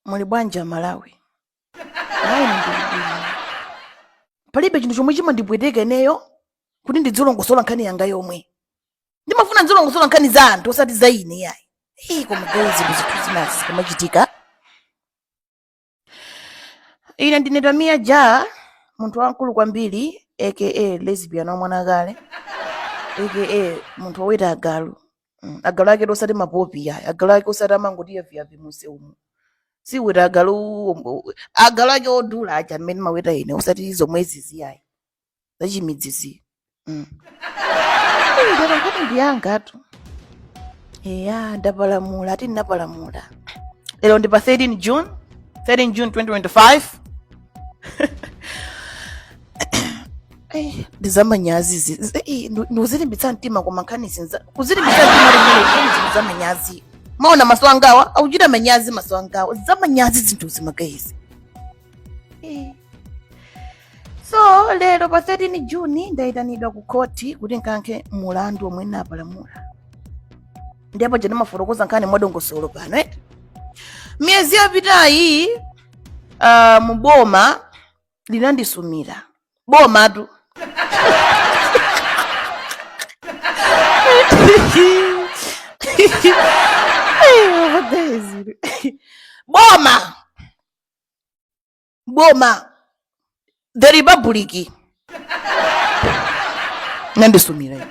muli bwanji amalawi ayi ndilibwino palibe chinthu chomwe chimandipweteka ineyo kuti ndidzilongosola nkhani yanga yomwe ndimafuna ndidzilongosola nkhani za anthu osati za ine yayi hey, koma gayizi zinthu zithu zinazi zikamachitika ine ndine tamiya ja munthu wamkulu kwambiri aka lesbian wamwanakakale aka munthu woweta agalu Mm, agalu aketu osati mapopi yayi agalu ake osati amangoti yaviyavi munseu umu siweta agalu ombo- agalu ake odula aja amene maweta ine osati zomwezizi yayi zachimidzi izi mm. nde nkhani ndiyangatu eya ndapalamula ati ndinapalamula lero ndi pa 13 june 13 june 2025 Eh, ndi zamanyazi izi Zi- i- ndi- ndi kuzilimbitsa mtima koma nkhani izi nza kuzilimbitsa mtima limene zinthu zamanyazi mwaona maso angawa akuchita manyazi maso angawa zamanyazi zinthuzi magayizi Eh. so lero pa 13 juni ndayitanidwa ku khoti kuti nkayankhe mulandu omwe napalamula ndipo paja mafotokoza nkhani mwadongosolo pano eh? miyezi yapitayi uh, boma linandisumira bomatu boma boma the republic linandisumira ine.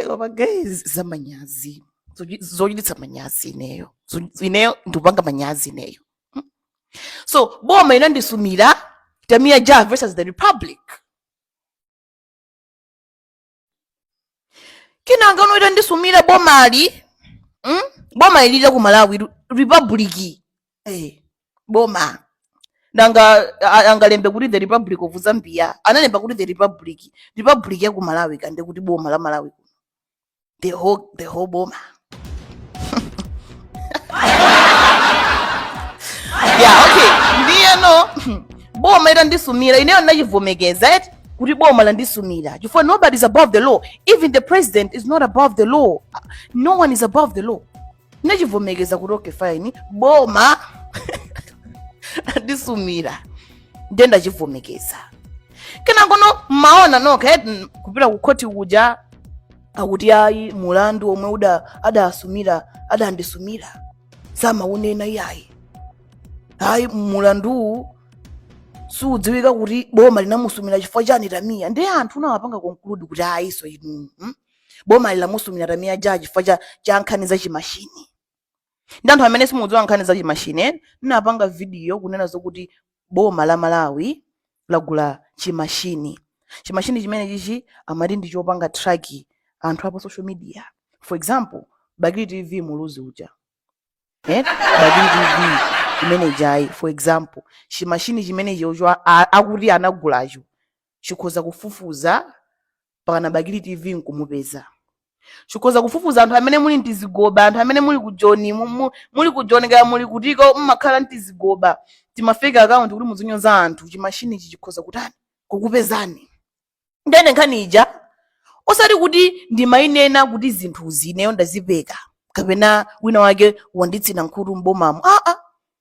Elo ma guys zamanyazi Zochi- zochititsa manyazi ineyo Zo- ineyo ndikupanga manyazi ineyo Mm. so boma itandisumira tamia ja versus the republic kenanga uno itandisumira bomali mm? bomali la ku malawi ru- republic Eh, boma nanga a- angalembe kuti the republic of zambia analemba kuti the republic republic ya ku malawi kande kuti boma la malawi kuno the whole, the whole boma yeah, okay ndiyeno boma itandisumira ineyo ndinachivomekeza eti kuti boma landisumira chifukwa nobody is above the law even the president is not above the law no one is above the law nachivomekeza kuti okay fine boma ndisumira ndiye ndachivomekeza kenakono mmaona nokha eti kupita ku khoti kuja akuti ayi mulandu omwe adasumira adandisumira samaunena iyayi ayi mulanduwu siudziwika kuti boma linamusumira chifukwa chani tamiya ndiye anthu munawapanga conclude kuti ayiso inu hmm? bomali lamusumira tamiya ja chifukwa cha, cha nkhani za chimashini nde anthu amene simukudziwa nkhani za chimashini eh? napanga vidiyo kunena zokuti boma la malawi lagula chimashini chimashini chimene chichi amati ndi chopanga traki anthu a pa social media for example bakili tv muluzi uja eh? bakili tv imene jayi for example chimashini chimene chocho a- a- akuti anagulacho chikhoza kufufuza pakana bakili tv nkumupeza chikhoza kufufuza anthu amene muli mtizigoba anthu amene muli ku joni mu- mu- muli ku joni kaya muli kutiko mmakhala mtizigoba timafake akaunti kuti muzinyoza anthu chimashini ichi chikhoza kutani kukupezani ndene nkhani ija osati kuti ndimayinena kuti zinthuzi ineyo ndazipeka kapena wina wake wanditsina nkhutu m'bomamo aa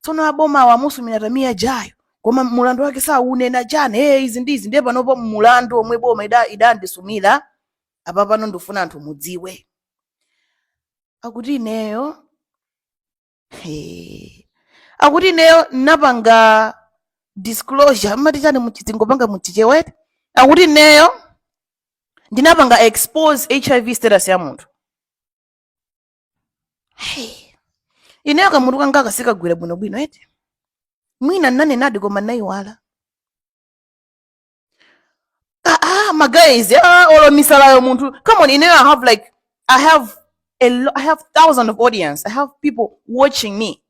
tsono abomawo amusumira tamiya jayo koma mulandu wake saunena chani ee izi ndi izi ndiye panopo mulandu omwe boma ida- idandisumira apa pano ndifuna anthu mudziwe akuti ineyo He. akuti ineyo napanga disclosure mumati chani muchizungu panga muchichewa eti akuti ineyo ndinapanga expose hiv status ya munthu Hey. ineyo kamutu kanga kasikagwira bwinobwino eti mwina nnanenadi koma nayiwala ah, ah, my guys ah, olo misalayo munthu come on ineyo i have like i have a lo- i have thousands of audience i have people watching me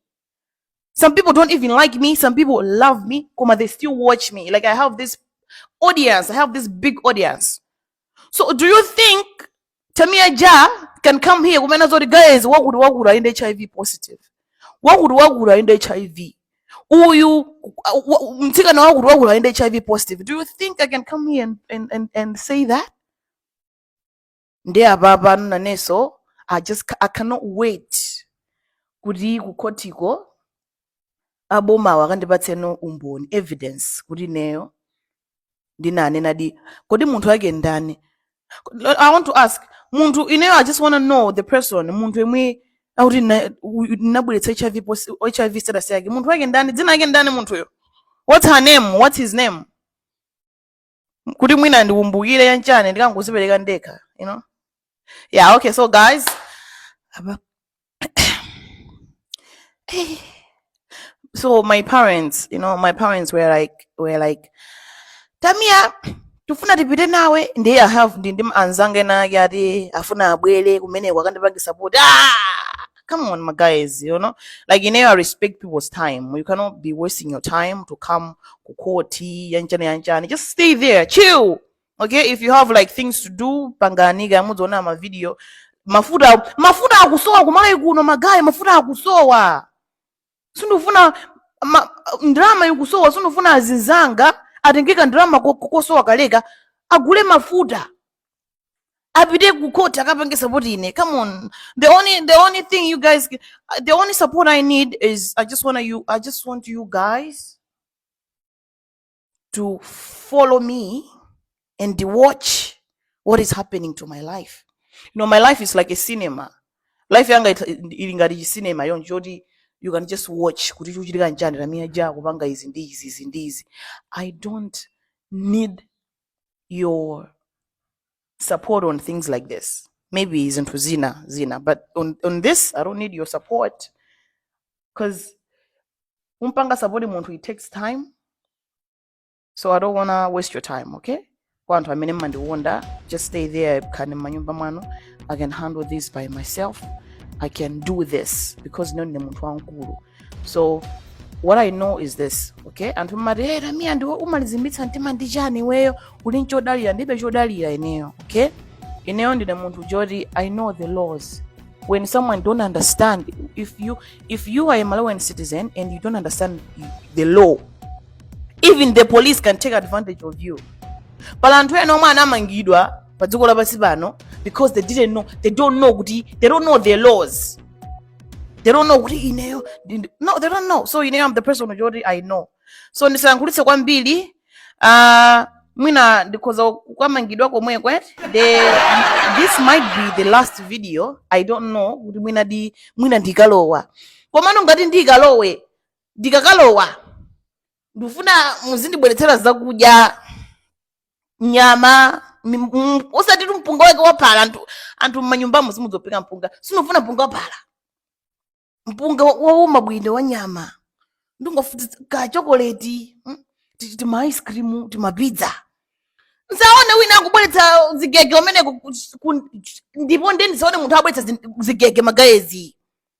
some people don't even like me some people love me koma they still watch me like i have this audience i have this big audience so do you think tamia ja can come here kumena zoti guys wakuti wakuti ayende hiv positive wakuti wakuti ayende hiv uyu wa- wa- mtsikana wakuti wakuti ayende hiv positive do you think i can come here and, and, and, and say that nde apapa inenso i just ca- i cannot wait kuti kukhotiko abomawa akandipatseno umboni evidence kuti ineyo ndinanenadi kodi munthu wake ndani Kodi- i want to ask munthu ineyo i just want to know the person munthu yemwe akuti na- u- nabweretsa hiv pos- hiv status yake munthu wake ndani dzina yake ndani munthuyo what's her name what's his name kuti mwina ndikumbukire chanchani ndikangozipereka ndekha you know yeah okay so guys apa- Eh. so my parents you know my parents were like were like tamiya tifuna tipite nawe ndiye i have ndi ndi anzanga ena ake ati afuna abwere kumeneko akandipange support ah! come on my guys you know like you know i respect people's time you cannot be wasting your time to come kukoti yanjani yanjani just stay there chill okay if you have like things to do panganiga mudziona mavideo mafuta mafuta akusowa kumalawi kuno magayi mafuta akusowa sindifuna ma- ndalama ikusowa sindifuna azinzanga atengeka ndalama ko- ko- kosowa kaleka agule mafuta apite ku court akapange support ine come on the only the only thing you guys ca- the only support i need is i just want you i just want you guys to follow me and watch what is happening to my life you know my life is like a cinema life yanga it- ili ngati chisinema choncho choti you can just watch kuti chikuchitika nchani tamiya ja akupanga izi ndi izi izi ndi izi i don't need you support on things like this maybe zinthu zina zina but on, on this i don't need your support because kumpanga support munthu it takes time so i don't wanna waste your time okay kwa anthu amene mmandikonda just stay there khalani mmanyumba mwanu i can handle this by myself i can do this because now ndine munthu wamkulu so what i know is this okay anthu mmati hey, tamiya ndiwe umalizimbitsa mtima ndi chani iweyo uli nchodalira ndibe chodalira ineyo okay ineyo ndine munthu woti i know the laws when someone don't understand if you if you are a malawian citizen and you don't understand the law even the police can take advantage of you pali anthu ena omwe anamangidwa pa dziko lapansi pano because they didn't know they don't know kuti they don't know the laws they don't know kuti ineyo ndi- ndi- no they don't know so ineyo am the person yoti i know so ndisayankhulitse kwambiri uh, mwina ndikhoza kukamangidwa komweko eti the this might be the last video i don't know kuti mwina di mwina ndikalowa komano ngati ndikalowe ndikakalowa ndikufuna muzindibweretsera zakudya nyama mi- m- osatitu mpunga wake waphala anthu anthu mmanyumbamo simudziphika mpunga sindikufuna mpunga waphala mpunga wa- wauma bwino wa nyama ndikufuna ka chokoleti mm, ti- tima ice cream tima pizza nsaone wina akubweretsa zigege umeneko ku- ku- ndipo nde ndisaone munthu abweretsa zin- zigege magayezi